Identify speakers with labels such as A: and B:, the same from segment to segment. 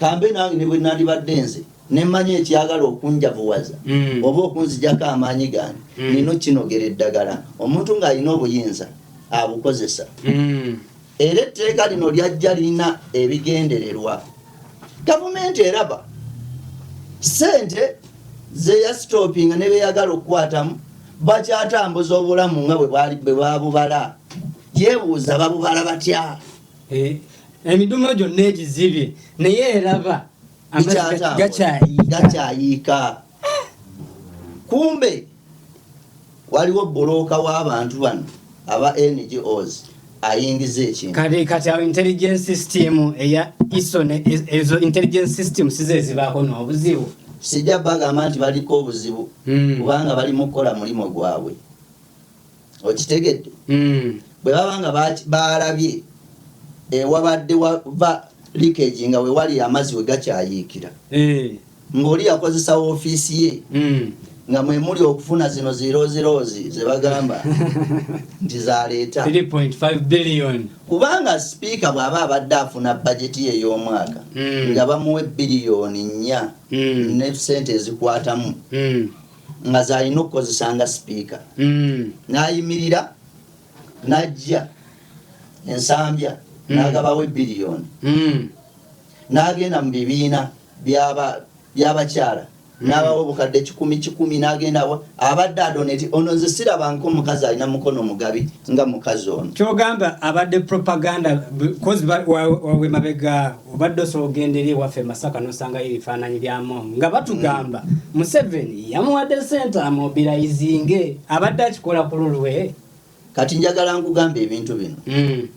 A: Kambe nange ne bwe nandibadde nze ne mmanya ekyagala okunjavuwaza mm. oba okunzijako amaanyi gange mm. nina okinogera eddagala omuntu ng'alina obuyinza abukozesa mm. era etteeka lino lyajja lirina ebigendererwa gavumenti eraba sente zeyasitopinga ne beyagala okukwatamu bakyatambuza obulamu nga bwe babubala yebuuza babubala batya eh,
B: emidumu gyonna egizibye naye eraba
A: gakyayiika kumbe waliwo bulooka w'abantu bano aba ngos ayingiza ekintu kati kati awo intelligence
B: system eya iso ezo intelligence system size ezibaako n'obuzibu sijja bagamba
A: nti baliko obuzibu hmm. kubanga bali mu kukola mulimu gwabwe okitegedde mm. bwe baba nga baalabye ewabadde eh, wava likegi nga wewali amazzi we gakyayiikira eh. ng'oli yakozesa ofiisi ye mm. nga mwe muli okufuna zino ziroziroozi ze bagamba nti zaleeta
B: kubanga sipiika
A: bw'aba abadde afuna bajeti ye y'omwaka mm. nga bamuwa ebbiliyoni nnya ne sente ezikwatamu nga zalina okukozesa nga sipiika mm. nayimirira najja ensambya mm. nagabawo ebiliyoni mm. nagenda mu bibiina byabakyala nabawo bukadde kikumi kikumi nagenda abadde adoneti ono nze sirabanka omukazi alina mukono mugabi nga mukazi ono kyogamba abadde
B: propaganda kozi wawemabega Obadde osobola okugenda eri ewaffe e Masaka n'osangayo ebifaananyi bya Among nga batugamba Museveni yamuwadde ssente amobilayizinge abadde akikola ku lulwe. Kati njagala
A: nkugamba ebintu bino. Hmm.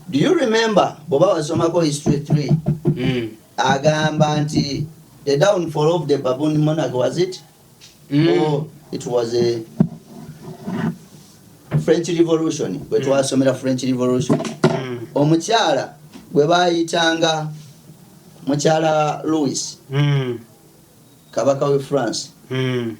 A: Do you remember bw'oba wasomako history 3 hmm. agamba nti the downfall of the baboon monarchy was it? mm. oh, it was a french revolution bwe mm. twasomera french revolution mm. omukyala gwe bayitanga mukyala louis mm. kabaka we france mm.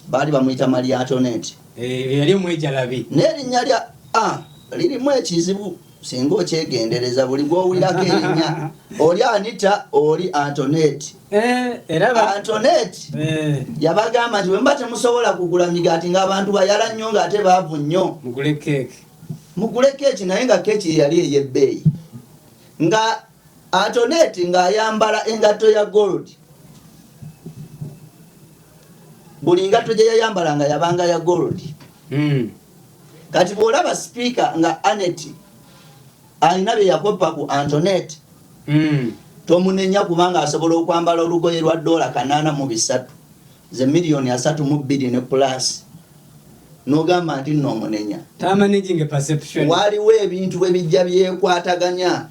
A: baali bamuyita maliatonet eh, yali
B: omwejalabi n'erinnya lya
A: ah, lirimu ekizibu singa okyegendereza buli gwowulirako erinnya oli anita oli antoneti Eh, antonet eh. yabagamba nti bwemuba temusobola kugula migaati ngaabantu bayala nnyo ngaate baavu nnyo mugule keeki naye nga keeki yeyali eyebbeeyi nga antonet ngaayambala engatto ya gold buli ngatto gye yayambala nga yabanga ya gold hmm. kati bwolaba sipiika nga aneti Alina bye yakoppa ku Antoinette. Tomunenya kubanga asobola okwambala olugoye lwa doola kanaana mu bisatu, ze million asatu mu bbiri ne plus nogamba nti nno omunenya. Waliwo ebintu bwe bijja byekwataganya.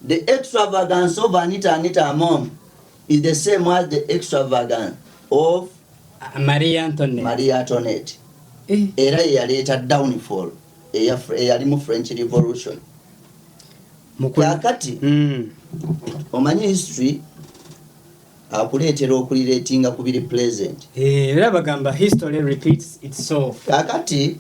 A: The extravagance of Anita Anita Among is the same as the extravagance of Maria
B: Antoinette. Era
A: ye yaleeta downfall. eyalimu french revolution kakati mm. omanyi history akuleetera okuliretinga ku biri present eh, era bagamba
B: history repeats itself kakati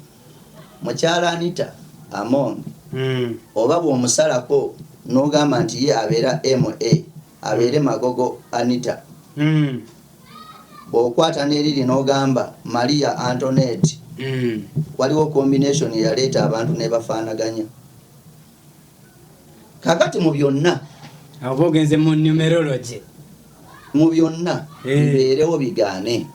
A: mukyala anita among mm. oba bwomusalako nogamba nti ye abeera ma abeere magogo anita mm. Bwokwata neriri nogamba Maria Antonetti waliwo combination eyaleeta abantu nebafanaganya. Kakati mu byonna. Awo oba ogenze
B: mu numerology. Mu
A: byonna bibeerewo bigaane.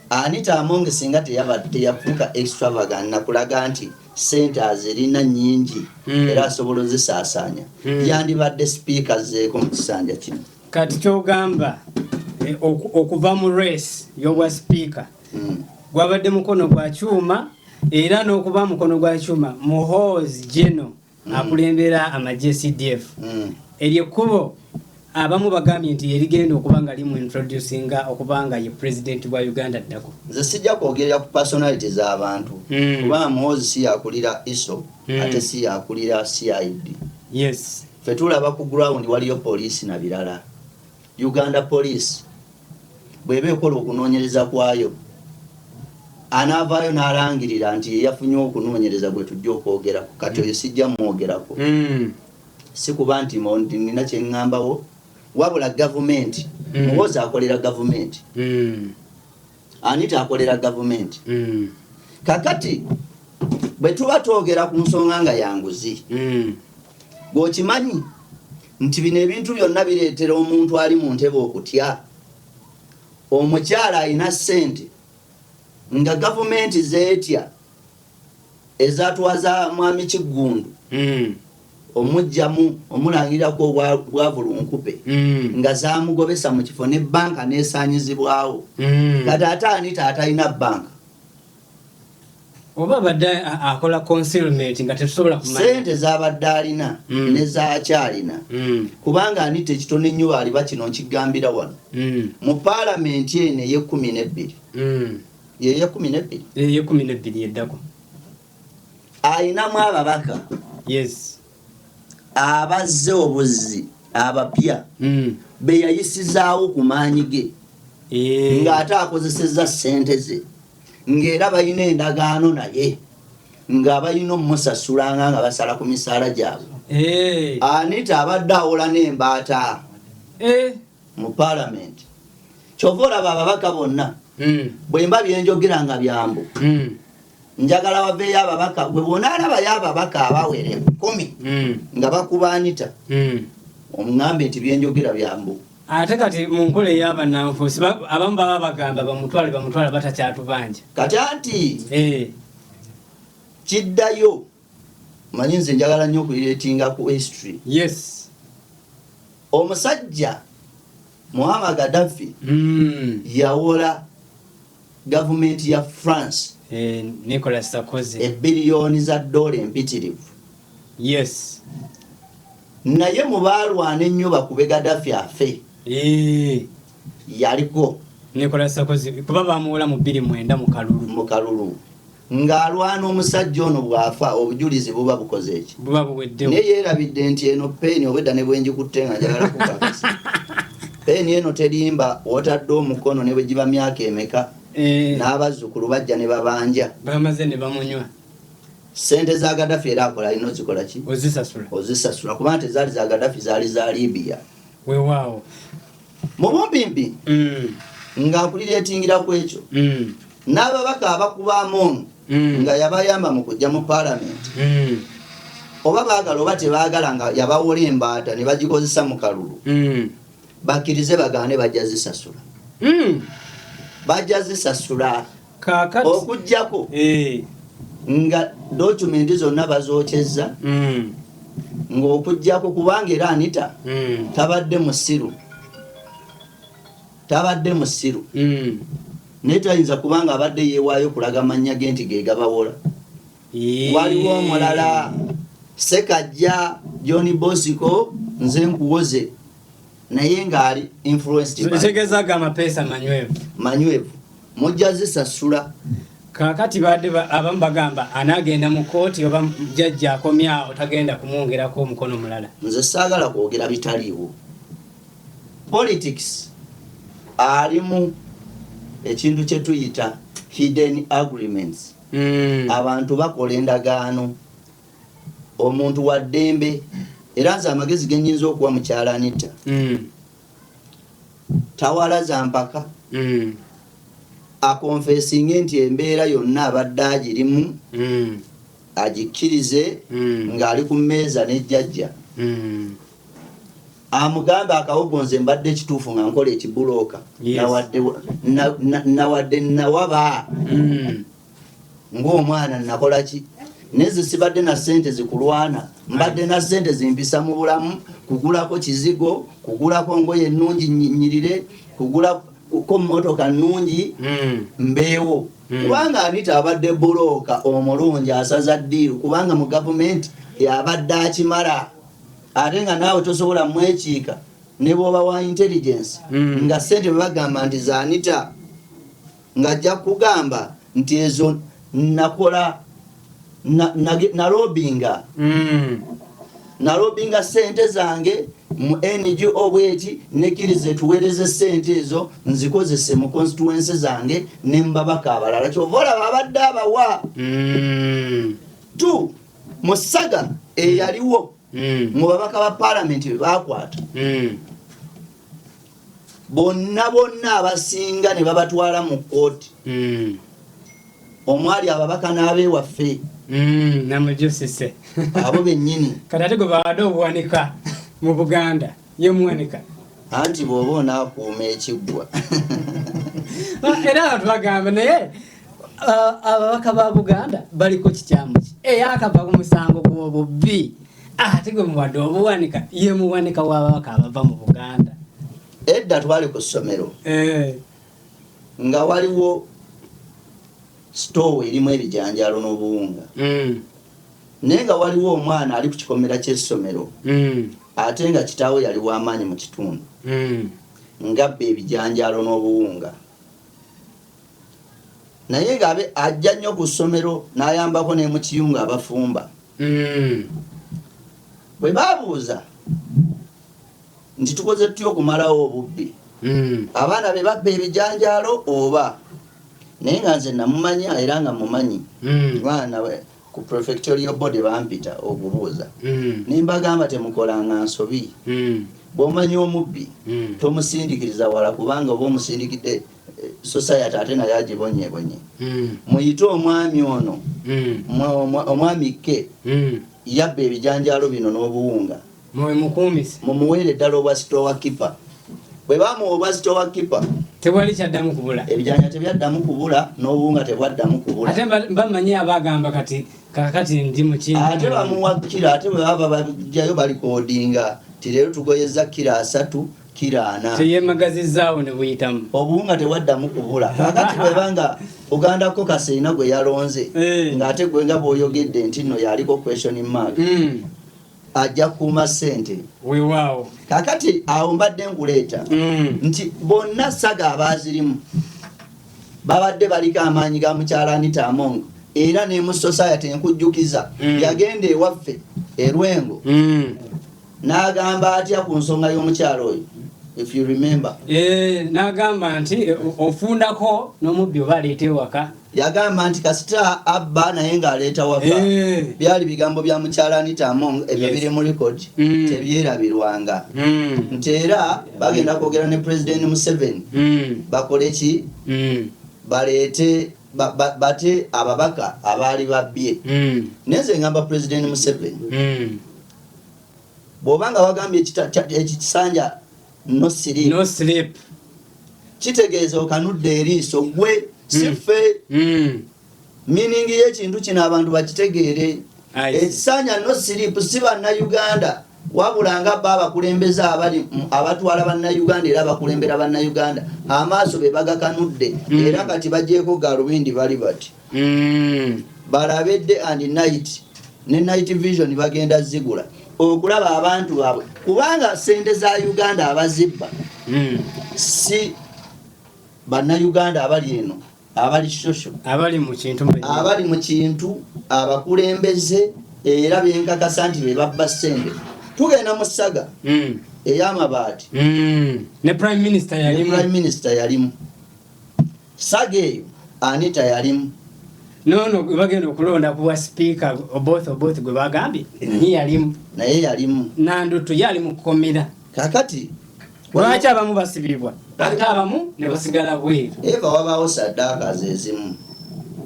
A: Anita Among singa teyafuuka extravagant nakulaga nti sente azirina nyingi era asobola ozisaasaanya yandibadde speaker azzeeko mu kisanja kino. Kati kyogamba
B: eh, okuva mu race yobwa speaker mm. gwabadde mukono gwa kyuma era n'okuba mukono gwa kyuma muhoozi geno mm. akulembera amagye cdf mm. eryo ekkubo abamu bagambye nti erigenda okuba nga limu introducinga okuba nga ye president wa uganda ddako nze sijja kwogerera
A: ku personality z'abantu mm. kuba muhoozi si yakulira iso mm. ate si yakulira CID yes
B: fe tulaba ku
A: ground waliyo police na birala Uganda police bweba ekola okunoonyereza kwayo anaavaayo n'alangirira nti yeyafunye okunoonyereza gwe tujja okwogerako kati oyo sijja mumwogerako mm. si kuba nti nina kyeŋŋambawo wabula gavumenti mm. muwozi akolera gavumenti mm. Ani takolera gavumenti? Mm. Kakati bwe tuba twogera ku nsonga nga ya nguzi mm. gweokimanyi nti bino ebintu byonna bireetera omuntu ali mu ntebe okutya omukyala alina ssente nga gavumenti zeetya Eza twa za mwami Kiggundu omujjamu omulangirira ku obwa bwavu lunkupe nga zamugobesa mu kifo ne banka nesanyizibwawo kati ate ani tatalina banka
B: oba abadde akola concealment nga tetusobola kumanya sente zabadde
A: alina mm. ne zakyalina mm. kubanga ani tekitono ennyo bali bakino nkigambira wano mm. mu palamenti eno eyekumi nebbiri mm. yeyekumi nebbiri
B: eyekumi nebbiri eddako
A: alinamu ababaka yes abazze obuzzi abapya mm. beyayisizaawo ku maanyi ge eh. ng'ate akozeseza sente ze ng'era balina endagaano naye nga balina omusasulanga nga basala ku misaala gyabwe eh. anita abadde awola n'embaata eh. mu palamenti kyova olaba ababaka bonna hmm. bwemba byenjogera nga byambu hmm. njagala waveeyo ababaka bwe bona alabayo ababaka abawere kumi hmm. nga bakuba anita omugambe nti byenjogera byambu ate kati mu
B: nkola eyabananfuusi abamu baba bagamba bamutwale bamutwale batakyatubanja kati anti
A: eh. kiddayo manyi nze njagala nnyo okuiretinga ku history yes
B: omusajja
A: muhama gadafi mm. yawola gavumenti ya france eh, nicolas
B: sakozi ebiriyoni za
A: dola empitirivu yes naye mu baalwana ennyo bakube gadafi afe eh. yaliko Nicolas Sarkozy
B: kuba baamuwola mu bbiri mwenda mu kalulu mu kalulu ng'alwana
A: omusajja ono bw'afa obujulizi buba bukoze eki buba buweddewo naye
B: yeerabidde nti
A: eno peeni obwedda ne bwengikutte nga njagala kukakasa peeni eno terimba wotadde omukono ne bwe giba myaka emeka eh. n'abazzukulu bajja ne babanja bamaze ne bamunywa
B: sente
A: za gadafi era akola alina ozikola ki ozisasula ozisasula
B: kubanga tezaali za
A: gadafi zaali za libiya wewaawo
B: mu
A: bumpimpi mm. nga nkulireetingira ku ekyo mm. n'ababaka abakuba amoonu mm. nga yabayamba mu kujja mu paalamenti oba baagala oba tebaagala nga yabawola embaata ne bagikozesa mu kalulu bakkirize bagaane bajja zisasula bajja zisasula okujjako eh. nga dokumenti zonna bazokyezza hmm. ng'okujjako kubanga era anita hmm. tabadde musiru tabadde musiru hmm. naye tayinza kubanga abadde yeewaayo kulaga mannya ge nti gegabawola waliwo omulala sekajja john bosiko nze nkuwoze naye ng'ali influencetegeza ga mapeesa
B: manywevu manywevu
A: mujja zisasula kakati
B: baadde abamu bagamba anaagenda mu kooti oba jajja akomyawo tagenda kumwongerako omukono mulala nze saagala kwogera
A: bitaliiwo politics alimu ekintu kye tuyita hidden agreements hmm. abantu bakola endagaano omuntu wa ddembe era nze amagezi ge nnyinza okuwa mukyala anitta mm. tawala za mpaka mm. akonfesinge nti embeera yonna abadde agirimu mm. agikkirize ng'ali ku mmeeza n'ejjajja amugambe akawogonze mbadde ekituufu nga nkola ekibulooka nawadde nawaba ng'omwana nakola ki naye zisibadde na ssente zikulwana mbadde na ssente zimpisa mu bulamu kugulako kizigo kugulako ngoye ennungi nyirire kugulako mmotoka nnungi hmm. mbeewo hmm. kubanga anita abadde bulooka omulungi asaza ddiiru kubanga mu gavumenti yabadde akimala ate nga naawe tosobola mwekiika ne bwoba wa intelligence hmm. nga ssente bebagamba nti zanita ng'ajja kugamba nti ezo nakola nalobinga hmm. nalobinga sente zange mu ngo bweti nekiriza etuwereze sente ezo nzikozese mu constituense zange ne mubabaka abalala kyova olaba abadde abawa hmm. t musaga eyaliwo hmm. mu babaka ba palamenti bebakwata bonna bonna abasinga ne babatwala mu kkooti hmm. omwali ababaka n'abeewaffe hmm,
B: namujusise abo
A: bennyini kati ate gwe bawadde
B: obuwanika mu buganda ye muwanika anti bw'oba
A: onaakuuma ekiggwa
B: ah, era abantu bagamba naye ah, ababaka ba buganda baliko kikyamu ki eyakava ku musango gw'obubbi ate gwe muwadde obuwanika ye muwanika w'ababaka abava mu buganda edda
A: twali ku ssomero eh. nga waliwo sitoowa erimu ebijanjalo n'obuwunga hmm. naye nga waliwo omwana ali ku kikomera ky'essomero hmm. ate nga kitaawe yali w'amaanyi mu kitundu hmm. ngabba ebijanjalo n'obuwunga naye nga abe ajja nnyo ku ssomero n'ayambako ne mu kiyungu abafumba mm. bwe baabuuza nti tukoze tutya okumalawo obubbi mm. abaana be babba ebijanjaalo oba naye nga nze namumanya era nga mumanyi mm. baana ku prefectorial body bampita okubuuza mm. ne mbagamba temukolanga nsobi mm. bw'omanya omubbi mm. tomusindikiriza wala kubanga oba omusindikidde society ate naye agibonyebonye hmm. muyite omwami ono hmm. omwami ke hmm. yabba ebijanjaalo bino n'obuwunga mumuweere ddala obwa sitowa kipa bwe bamuwa obwa sitowa kipa tewali kyaddamu
B: kubula ebijanja tebyaddamu
A: kubula n'obuwunga tebwaddamu kubula ate bamanyi
B: abagamba kati kakati ndi muki ate bamuwa kira
A: ate bwe baba bajjayo balikodinga ti leero tugoyeza kira asatu kiraana teyemagazizzaawo ne
B: buyitamu obuwunga tewaddamu
A: kubula kakati bwebanga buganda ko kaseina gwe yalonze eh. ng'ate gwe nga bwoyogedde nti nno yaliko question mark hmm. ajja kuuma ssente wewaawo
B: kakati awo
A: mbadde nkuleeta hmm. nti bonna saga abaazirimu babadde baliko amaanyi ga mukyala anita among era nemu society enkujjukiza hmm. yagenda ewaffe erwengo N'agamba atya ku nsonga y'omukyala oyo? If you remember. Eh, n'agamba
B: nti eh, ofundako n'omubbi oba aleeta ewaka. Yagamba nti kasita
A: abba naye ng'aleeta waka. Eh. Byali bigambo bya mukyala Anita Among ebyo yes. biri mu record mm. tebyerabirwanga. Mm. Nti era bagenda kwogera ne President Museveni mm. bakole ki? Mm. Baleete ba, ba, bate ababaka abaali babbye. Mm. Neze ngamba President Museveni. Mm. Bwoba nga wagambye ekikisanja no sleep, no sleep. kitegeeza okanudde eriiso gwe sife mm. mm. meaning yekintu kino abantu bakitegeere ekisanja no sleep si bannayuganda wabula nga ba abakulembeze abali abatwala bannayuganda era bakulembera bannayuganda amaaso be bagakanudde mm. era kati bajeeko galubindi bali bati Mm. balabe day and night ne night vision bagenda zigula okulaba abantu baabwe kubanga sente za uganda abazibba mm. si bannayuganda abali eno abali shosho abali mu kintu
B: abali mu kintu abakulembeze era benkakasa nti be babba sente tugenda mu ssaga mm. ey'amabaati mm. ne prime minister yalimu
A: Saga eyo Anita yalimu. Nono gwe
B: bagenda okulonda kuwa sipiika Oboth Oboth gwe bagambye mm. ye yalimu. Naye yalimu.
A: Nandutu yali mu
B: kkomera. Kakati
A: lwaki
B: abamu basibibwa ate abamu ne basigala bweru. Eva wabaawo
A: saddaaka zezimu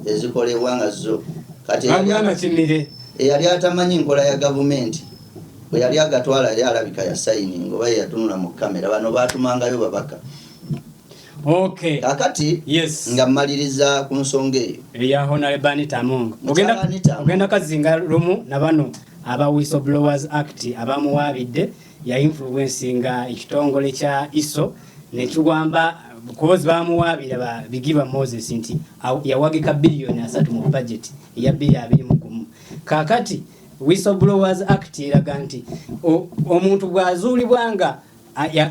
A: ezikolebwa nga zo kati eyali atamanyi nkola ya gavumenti bwe yali agatwala yali alabika yasayininga oba yeyatunula mu kamera bano batumangayo babaka Okay. Kakati yes. nga maliriza ku nsonga eyo eya Honorable Anita
B: Among ogenda, ogenda kazinga lumu na bano aba Whistleblowers Act abamuwaabidde ya influence nga ekitongole kya ISO nekiwamba kubozi bamuwaabira ba Bigirwa Moses nti yawagika biliyoni asatu mu budget eya biri abiri mu gumu kakati Whistleblowers Act eraga nti omuntu bwazuulibwa nga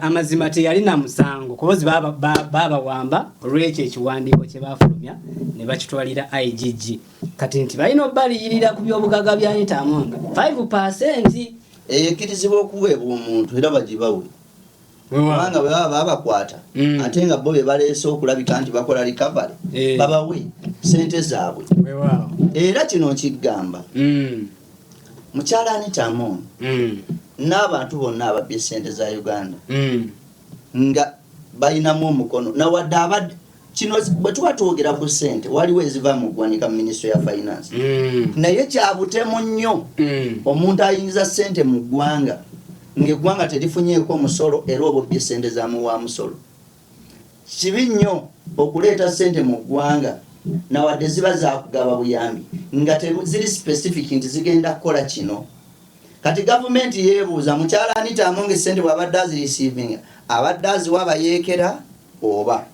B: amazima teyalina musango kubozi babawamba olwekyo ekiwandiiko kye baafulumya ne bakitwalira igg kati nti balina obaliyirira ku byobugaga bya anita among 5 percent ekirizibwa
A: okuweebwa omuntu era bagibawe kubanga bwe baba babakwata mm. ate nga bo be baleese okulabika nti bakola recovery eh. babawe sente zaabwe era kino nkigamba mm. Mukyala Anita Among mm. n'abantu bonna ababbye ssente za Uganda mm. nga balinamu omukono nawadde abadde kino bwe tuba twogera ku ssente waliwo eziva mu ggwanika mu minisitule ya finance mm. naye kyabutemu nnyo mm. omuntu ayingiza ssente mu ggwanga ng'eggwanga terifunyeeko omusolo era obubbye ssente zamuwa musolo Kibi nnyo okuleeta ssente mu ggwanga na wadde ziba zaakugaba buyambi nga teziri specific nti zigenda kukola kino. Kati gavumenti yeebuuza mukyala Anita Among ssente bw'abadde azirisiivinga abadde aziwa bayeekera oba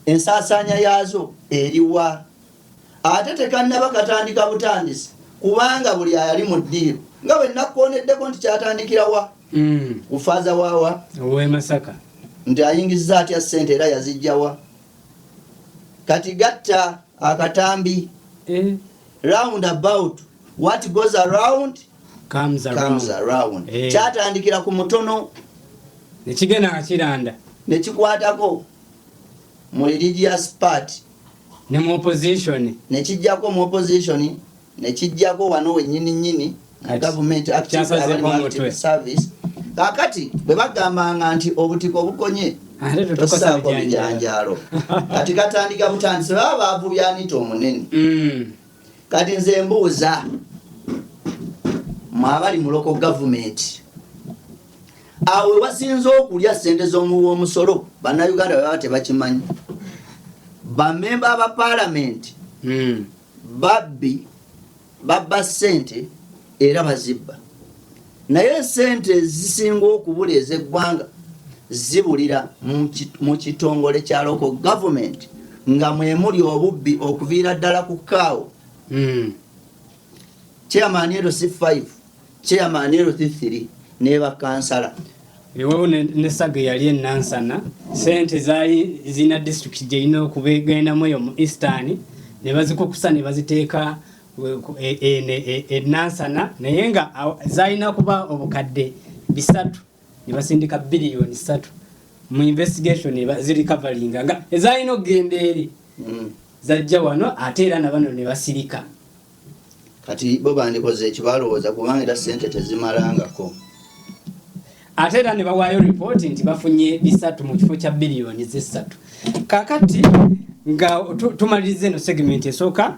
A: ensaasaanya yaazo eriwa? ate tekannaba katandika butandisi kubanga buli ayali mu ddiiro nga bwe nakkoneddeko nti kyatandikira wa mm. ku faaza waawa owemasaka
B: nti ayingizza
A: atya ssente era yazijjawa kati gatta akatambi eh. round about what goes around comes around,
B: comes around. Eh. kyatandikira ku
A: mutono nekigenda
B: nga kiranda nekikwatako
A: mu religious party ne mu
B: opposition ne kijjako mu
A: opposition ne kijjako wano wenyini nyini mu government active service kakati bwe bagambanga nti obutiko bukonye tosaako bijanjaalo kati katandika butandise baba baavu byanita omunene mm. kati nze mbuuza mwabali muloko gavumenti awo wewasinza okulya sente zomuwa omusolo banauganda bebaba tebakimanyi bamemba ba palamenti hmm. babbi babba sente era bazibba naye sente ezisinga okubula ezeggwanga zibulira mu kitongole kya loko gavumenti nga mwemuli obubbi okuviira ddala ku kaawo hmm. chairman ero si 5 chairman ero si 3 nebakansala ewawo
B: nesaga eyali enansana sente zaali zirina disitulikiti gyerina okubegendamu eyo mu eastern nebazikukusa nebaziteeka enansana e, e, e, naye nga zalina kuba obukadde bisatu nebasindika biliyoni satu mu investigation ziri coveringa nga ezalina okugenda eri mm. zajja wano ate era nabano nebasirika
A: kati bo bandikoze ekibalowooza kubanga era sente tezimalangako
B: ate era nebawaayo ripooti nti bafunye bisatu mu kifo kya biliyoni zesatu kakati nga tumaliriza eno segmenti esooka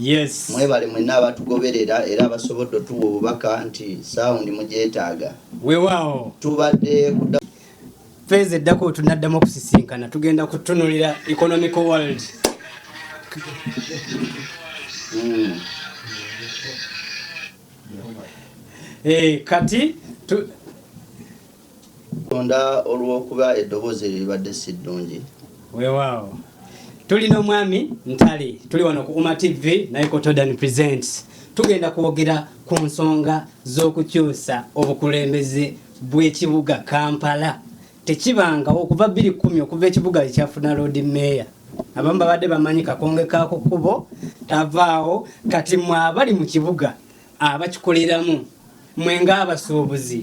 A: Yes.
B: Mwebale mwenna
A: abatugoberera era abasobodde otuwa obubaka nti sound mugyetaaga. Wewaawo.
B: Tubadde kuda feeza eddako tunaddamu okusisinkana tugenda kutunulira economical world mm. hey, eh, kati tu,
A: Katonda olw'okuba eddoboozi eryo libadde si ddungi. Weewaawo.
B: Tuli n'omwami Ntale. Tuli wano ku UMA TV naye ko Todan Presents. Tugenda kwogera ku nsonga z'okukyusa obukulembeze bw'ekibuga Kampala. Tekibangawo okuva bbiri kkumi okuva ekibuga lwe kyafuna loodi meeya. Abamu babadde bamanyi kakonge ka ku kkubo tavaawo kati mwe abali mu kibuga abakikoleramu Mwe ng'abasuubuzi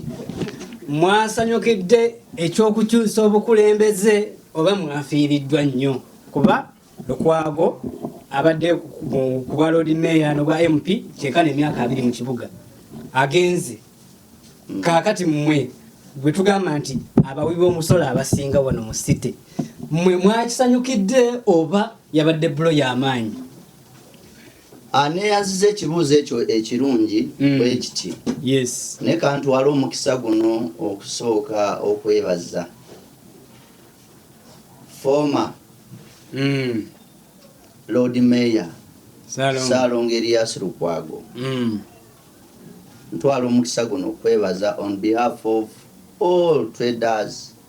B: mwasanyukidde eky'okukyusa obukulembeze oba mwafiiriddwa nnyo kuba lukwago abadde ku bwa lord mayor nobwa mp kyekana emyaka abiri mu kibuga agenze hmm. kaakati mmwe gwe tugamba nti abawi b'omusolo abasinga wano mu city mmwe mwakisanyukidde oba yabadde bulo y'amaanyi aneeyanziza
A: ekibuuzo ekyo ekirungi mm. bwe kiti naye
B: kantwala
A: omukisa guno okusooka okwebaza foma mm. lord mayor saalonga erias lukwago mm. ntwala omukisa guno okwebaza on behalf of all traders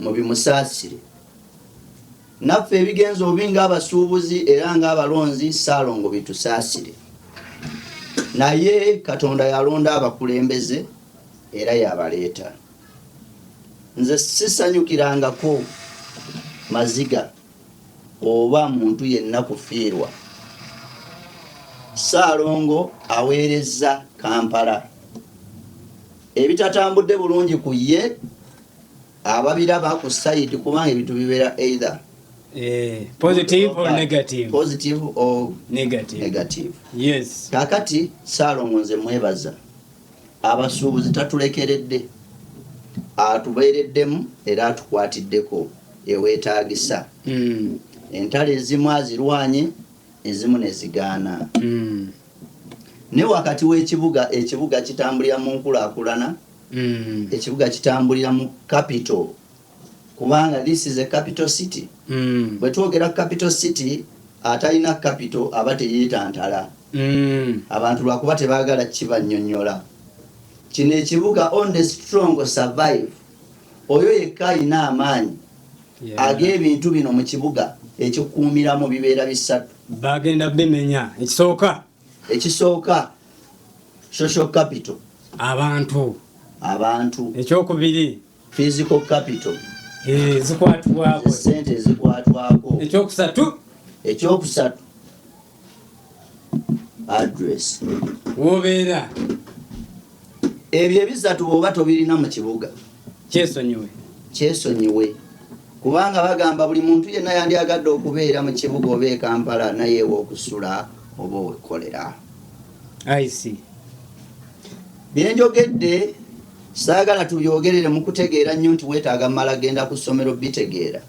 A: mubimusaasire naffe ebigenza obi ngaabasuubuzi era ngaabalonzi saalongo bitusaasire naye katonda yalonda abakulembeze era yabaleeta nze sisanyukirangako maziga oba muntu yenna kufiirwa saalongo aweerezza kampala ebitatambudde bulungi ku ye ababiraba ku side kubanga ebintu bibeera either eh,
B: positive or negative positive or
A: negative negative yes
B: kakati
A: salongo nze mwebaza abasuubuzi tatulekeredde atubeereddemu era atukwatiddeko ewetagisa mm. entalo ezimu azirwanye ezimu nezigaana mm. ne wakati w'ekibuga ekibuga kitambulira mu nkulakulana mm. ekibuga kitambulira mu capital kubanga this is a capital city mm. bwe twogera capital city atalina capital aba teyetantala mm. abantu lwakuba tebagala kibanyonyola kino ekibuga on the strong survive oyo yekka alina amaanyi yeah. ag'ebintu bino mu kibuga ekikuumiramu bibeera bisatu bagenda bimenya
B: ekisooka ekisooka social capital abantu abantu ekyokubiri physical
A: capital eh,
B: zikwatibwako sente
A: ezikwatwako ekyokusatu
B: ekyokusatu
A: address wobeera Ebyo ebisatu bw'oba tobirina mu kibuga, kyesonyiwe kyesonyiwe kubanga bagamba buli muntu yenna yandyagadde okubeera mu kibuga oba e Kampala naye ew'okusula oba owekkolera. Bye njogedde saagala tubyogerere mu kutegeera nnyo nti weetaaga mmala genda ku ssomero bitegeera.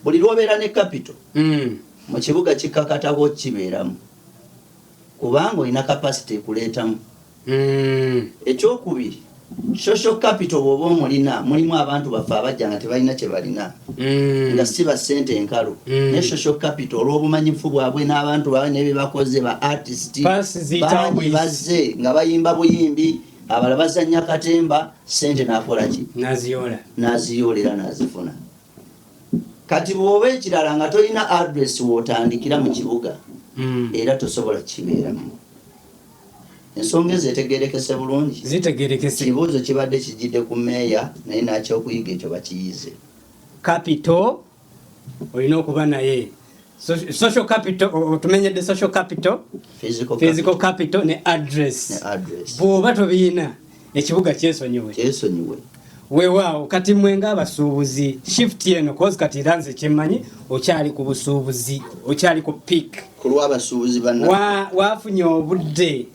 A: Buli lw'obeera ne kapito hmm. mu kibuga kikkakatako okibeeramu. kubanga olina capacity ekuleetamu. Eky'okubiri, social capital bw'oba omulina, mulimu abantu baffe abajja nga tebalina kye balina, nga ssi ba ssente enkalu, naye social capital olw'obumanyifu bwabwe n'abantu baabwe ne bye bakoze, ba artist bangi bazze nga bayimba buyimbi, abalala bazannya katemba, ssente n'akola ki? N'aziyoola era n'azifuna. kati bwoba ekirala nga tolina address wotandikira mu kibuga hmm. era tosobola kibeeramu ensonga ezo etegerekese bulungi zitegerekese ekibuuzo kibadde kijjidde ku meeya naye nakyokuyiga ekyo bakiyize kapito
B: olina okuba naye social capital otumenyedde social capital physical, physical capital, capital ne address, ne address. bwoba tobiyina ekibuga kyesonyiwe kyesonyiwe wewaawo kati mwe ngaabasuubuzi shift eno kozi kati era nze kyemmanyi okyali ku busuubuzi okyali ku pik kulwabasuubuzi
A: wafunye obudde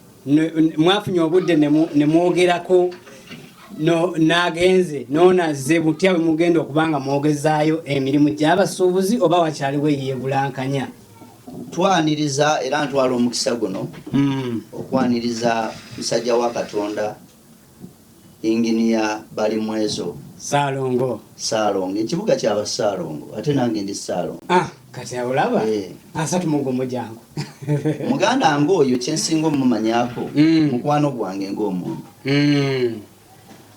B: mwafunye obudde ne mwogerako n'agenze n'onazze butya bwe mugenda okuba nga mwogezaayo emirimu gy'abasuubuzi oba wakyaliwo eyeebulankanya
A: twaniriza era ntwala omukisa guno hmm. okwaniriza musajja wa katonda Engineer Balimwezo. Ssaalongo.
B: Ssaalongo. Ekibuga
A: kya ba Ssaalongo. Ate nange ndi Ssaalongo. Ah, kati awo laba.
B: Eh. Asatu mu gumu gyangu. Muganda
A: ng'oyo kye nsinga omumanyako mm. mukwano gwange ng'omuntu. Mm.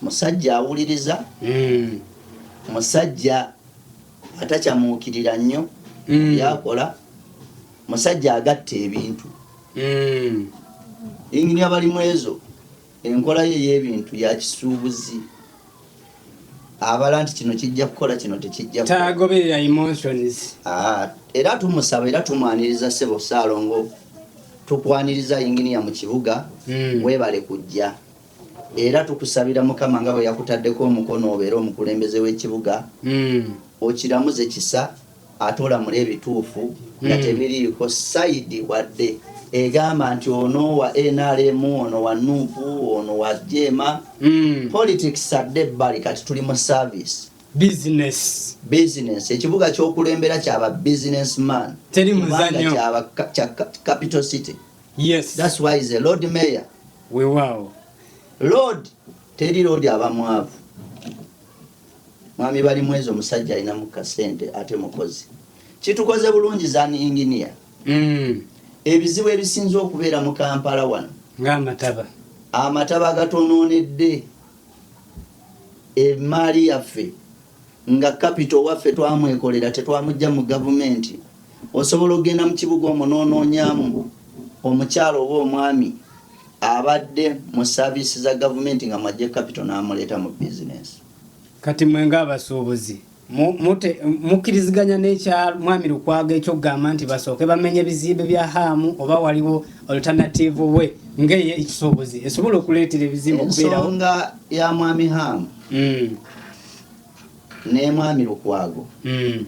A: Musajja awuliriza. Mm. Musajja atakyamuukirira nnyo byakola. Musajja agatta ebintu. Engineer Balimwezo enkola ye ey'ebintu ya kisuubuzi abala nti kino kijja kukola kino tekijja tagoberera
B: emotions ah, era
A: tumusaba era tumwaniriza sebo saalongo tukwaniriza yinginiya mu kibuga mm. webale kujja era tukusabira mukama nga bwe yakutaddeko omukono obeera omukulembeze w'ekibuga mm. okiramuze kisa Ate olamula ebituufu nga tebiriiko side wadde egamba nti ono wa nrm ono wa nup ono wa jeema. Politics adde ebbali kati tuli mu service. Business. Business. Ekibuga kyokulembera kya ba business man. Teri muzanyo.
B: Kya
A: capital city. Yes. That's why
B: is a lord
A: mayor. Wewawo.
B: Lord
A: teri lodi abamwavu Mwami Balimwezo musajja alina mu kasente ate mukozi. Kitukoze bulungi zan engineer. Mm. Ebizibu ebisinze okubeera mu Kampala wano. Nga amataba. Amataba gatonoonedde emaali yaffe nga kapito waffe twamwekolera tetwamujja mu gavumenti osobola okugenda mu kibuga omunonoonyamu omukyalo oba omwami Abadde mu service za gavumenti nga mwajje capital n'amuleeta mu business. Kati mwe
B: nga abasuubuzi mukkiriziganya n'ekya mwami Lukwago ekyokugamba nti basooke bamenye ebizimbe bya haamu oba waliwo alternative we ngeye ekisuubuzi esobola okuleetera ebizimbe okubeerawo. Ensonga ya mwami
A: haamu hmm. ne mwami Lukwago hmm.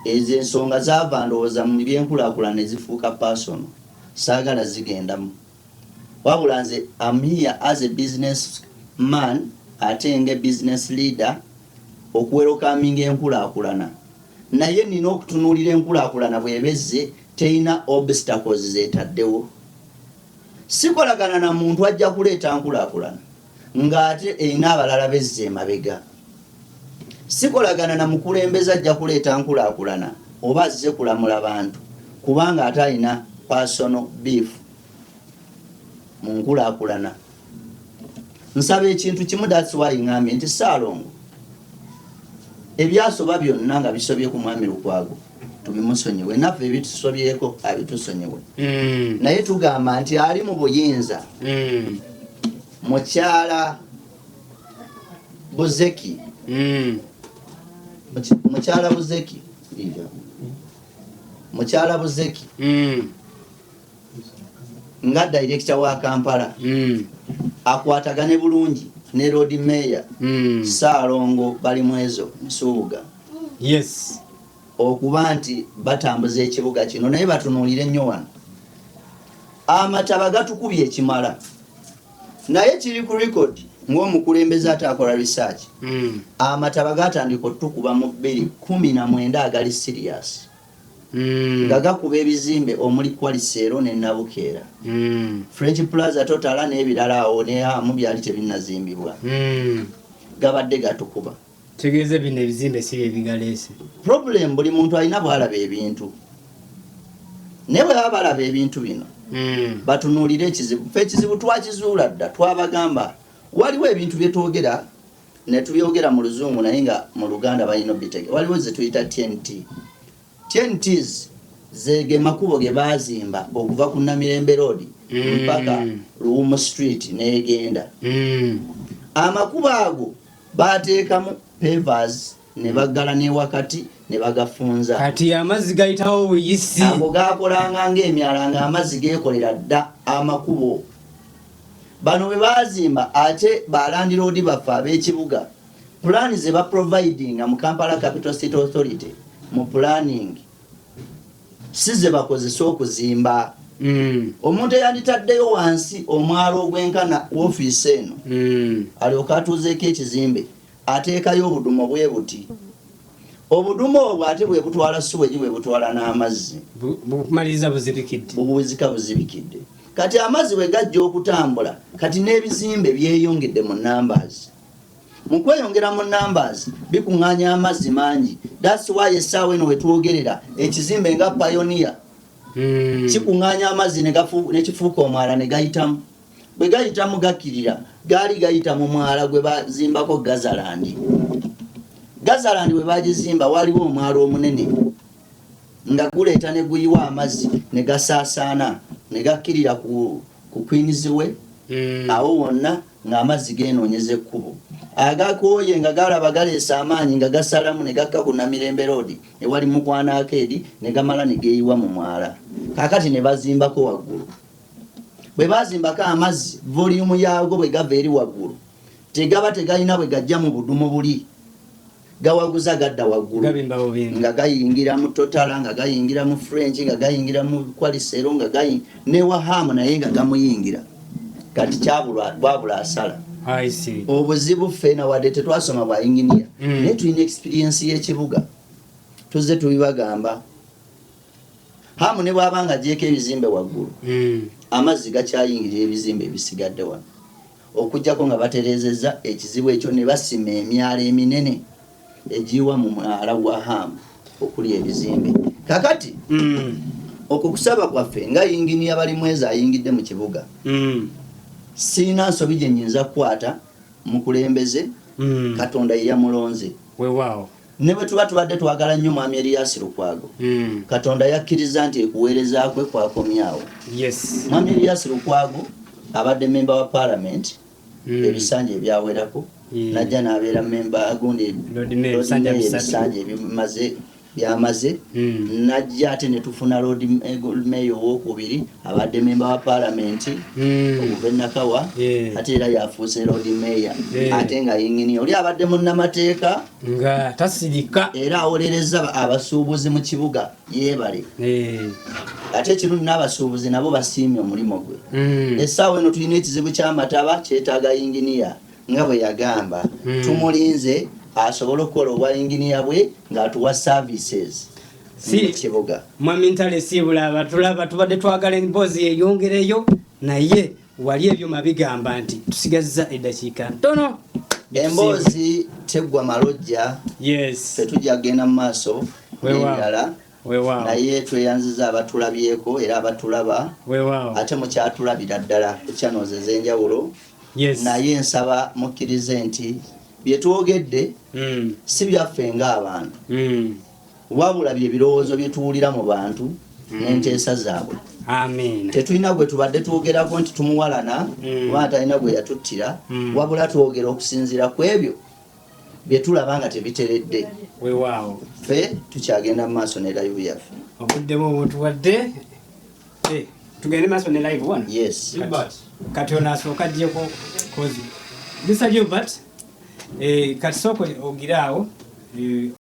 A: ezo ensonga zaava ndowooza mu byenkulakulana ezifuuka personal. Saagala zigendamu wabula nze am here as a business man ate nge business leader okuwerokaminga enkulakulana naye nina okutunulira enkulakulana bweba ezze teyina obstacles zetaddewo sikolagana na muntu ajja kuleeta nkulakulana. ng'ate erina abalala bezza emabega. Sikolagana na mukulembeze ajja kuleeta nkulaakulana oba azze kulamula bantu kubanga ate alina personal beef mu nkulaakulana. Nsaba ekintu kimu that's why ng'ambye nti Ssaalongo ebyasoba byonna nga bisobye ku Mwami Lukwago, tubimusonyiwe naffe ebitusobyeko abitusonyiwe mm. naye tugamba nti ali mu buyinza mm. mukyala buzeki mm. mukyala buzeki mukyala buzeki nga director wa kampala mm. akwatagane bulungi ne lord mayor mm. saalongo bali mwezo nsuubuga yes
B: okuba
A: nti batambuza ekibuga kino naye batunuulire nnyo wano amataba gatukubye ekimala naye kiri ku record ng'omukulembeze ate akola research mm. amataba gatandika otukuba mu bbiri kumi na mwenda agali siriasi nga gakuba ebizimbe omuli Qualicero ne Nabukeera, French Plaza, Totala n'ebirala awo ne Hamu byali tebinnazimbibwa gabadde gatukuba. Kitegeeza bino
B: ebizimbe si bye bigaleese. Problem buli
A: muntu alina bw'alaba ebintu naye bwe baba balaba ebintu bino hmm. batunuulire ekizibu. Ffe ekizibu twakizuula dda, twabagamba waliwo ebintu bye twogera Netubyogera mu luzungu naye nga mu luganda balina obitege waliwo zetuyita TNT. TNTs ze ge makubo ge baazimba okuva ku Namirembe Road mm. mpaka Luwumu Street n'egenda. Mm. Amakubo ago baateekamu pavers ne baggala n'ewakati ne bagafunza. Kati amazzi
B: gayitawo obuyisi. Ago gaakolanga
A: ng'emyala ng'amazzi geekolera dda amakubo. Bano bwe baazimba ate balandiroodi baffe ab'ekibuga pulaani ze baprovidinga mu Kampala Capital City Authority mu pulaaningi si ze bakozesa okuzimba. Mm. omuntu eyanditaddeyo wansi omwalo ogwenkana wofiisi eno mm. alyoka atuuzeeko ekizimbe Ateekayo obudumo bwe buti. Obudumo obwo ate bwe butwala suwegi bwe butwala n'amazzi. Bumaliriza
B: buzibikidde. Bubuzika buzibikidde.
A: Kati amazzi bwe gajja okutambula, kati n'ebizimbe byeyongedde mu numbers. Mu kweyongera mu numbers, bikuŋŋaanya amazzi mangi. That's why essaawa eno we twogerera ekizimbe nga Pioneer hmm. kikuŋŋaanya amazzi ne kifuuka omwala ne gayitamu. Bwe gayitamu gakkirira, gaali gayita mu mwala gwe bazimbako Gazalandi. Gazalandi bwe baagizimba waaliwo omwala omunene nga guleeta ne guyiwa amazzi ne gasaasaana ne gakkirira ku kwinizi we hmm. awo wonna ng'amazzi geenoonyeza ekkubo agakooye nga galaba galeesa amaanyi nga gasalamu ne gakka ku namirembe roodi ewali mukwanaako eri ne gamala ne geeyiwa mu mwala kaakati ne bazimbako waggulu bwe bazimbako amazzi voliyumu yaago bwe gava eri waggulu tegaba tegalina bwe gajja mu budumu buli gawaguza gadda waggulu nga gayingira mu totala nga gayingira mu french nga gayingira mu kwalisero nga gayi ne wahamu naye nga gamuyingira kati kyabwabula asala
B: obuzibu ffena
A: wadde tetwasoma bwa inginiya mm. naye tulina ekisipiriyensi y'ekibuga tuzze tubibagamba hamu ne bwaba nga agyeko ebizimbe waggulu hmm. amazzi gakyayingirira ebizimbe ebisigadde wano okujjako nga baterezeza ekizibu ekyo ne basima emyalo eminene egiwa mu mwala gwa hamu okuli ebizimbe kakati hmm. okwo kusaba kwaffe nga yingini yabali mwezi ayingidde mu kibuga hmm. siina nsobi gyenyinza kukwata mukulembeze katonda yeyamulonze wewaawo
B: Ne bwe tuba tubadde
A: twagala nnyo Mwami Erias Lukwago, Katonda yakkirizza nti ekuweereza kwe kwakomye awo. Mwami
B: Erias Lukwago
A: abadde mmemba wa Paalamenti ebisanja ebyawerako n'ajja n'abeera mmemba gundi loodimmeeya ebisanja by'amaze n'ajja ate ne tufuna loodimmeeya owookubiri. Abadde memba wa palamenti hmm. okuva enakawa ate era yafuuse lodi meeya ate nga yinginiya oli abadde munnamateeka nga
B: tasirika era awolereza
A: abasuubuzi mu kibuga yebale ate ekirungi n'abasuubuzi nabo basiimye omulimu gwe hmm. essaawa eno tulina ekizibu ky'amataba kyetaaga yinginiya nga bwe yagamba hmm. tumulinze asobole okukola obwa yinginiya bwe ng'atuwa services si
B: kibuga mwami
A: ntale siibula
B: abatulaba tubadde twagala emboozi yeyongereyo naye wali ebyuma bigamba nti tusigazza eddakiika ntono emboozi
A: teggwa malojja yes tetujja
B: kugenda mu maaso
A: nebirala naye tweyanziza abatulabyeko era abatulaba ate mukyatulabira ddala ekyanoze ezenjawulo naye nsaba mukkirize nti byetwogedde hmm. si byaffe ngaabantu hmm. Wabula bye birowoozo bye tuwulira mu bantu mm. n'enteesa zaabwe. Amiina. Tetulina
B: gwe tubadde
A: twogerako nti tumuwalana mm. oba atalina gwe yatuttira mm. wabula twogera okusinziira ku ebyo bye tulaba nga tebiteredde. Weewaawo.
B: Ffe
A: tukyagenda mu maaso ne layivu yaffe. Obudde bwo butuwadde.
B: Eh, tugende maaso ne layivu wano. Yes. Gilbert.
A: Kati ono
B: asooka ajjeko kozi. Mr. Gilbert, eh, kati sooka ogiraawo. Eh,